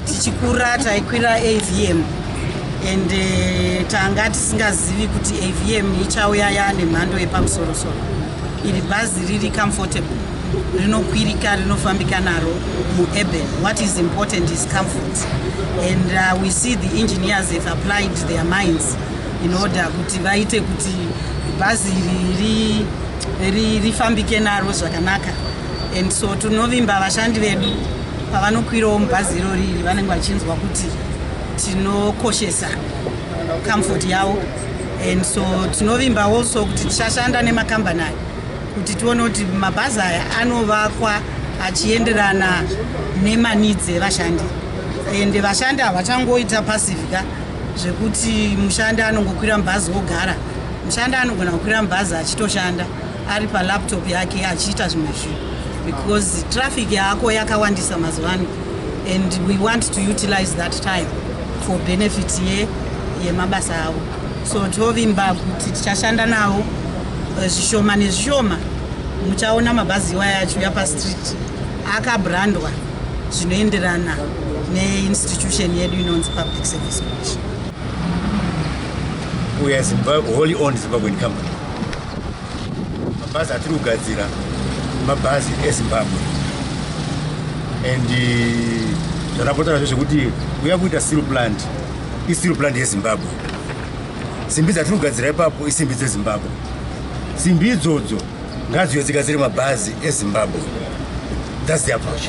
tichikura taikwira avm and uh, tanga tisingazivi kuti avm ichauya yaane mhando yepamusorosoro iri bhazi riri comfortable rinokwirika rinofambika naro muurban what is important is comfort and uh, we see the engineers have applied their minds in order kuti vaite kuti bhazi iri rifambike naro zvakanaka and so tinovimba vashandi vedu pavanokwirawo mubhazi irori iri vanenge vachinzwa kuti tinokoshesa comfort yavo and so tinovimba also kuti tichashanda nemakambani ayo kuti tione kuti mabhazi aya anovakwa achienderana nemanidzi evashandi ende vashandi havachangoita pasivika zvekuti mushandi anongokwira mubhazi wogara mushandi anogona kukwira mubhazi achitoshanda ari palaptop yake achiita zvimwe zvinhu because traffic yako yakawandisa mazuva ano and we want to utilize that time for benefit yemabasa avo so tovimba kuti tichashanda navo eh, zvishoma nezvishoma muchaona mabhazi iwaya achiuya pastreet akabrandwa zvinoenderana neinstitution yedu inonzi public service commission uya zimbabwe holy on zimbabwen company mabhazi atiri kugadzira mabhazi ezimbabwe and eh, zvatapotarazve zvekuti uya kuita seal plant isteel plant yezimbabwe simbi dzatiri kugadzira ipapo isimbi dzezimbabwe simbi idzodzo ngadziyo dzigadzire mabhazi ezimbabwe thats the approach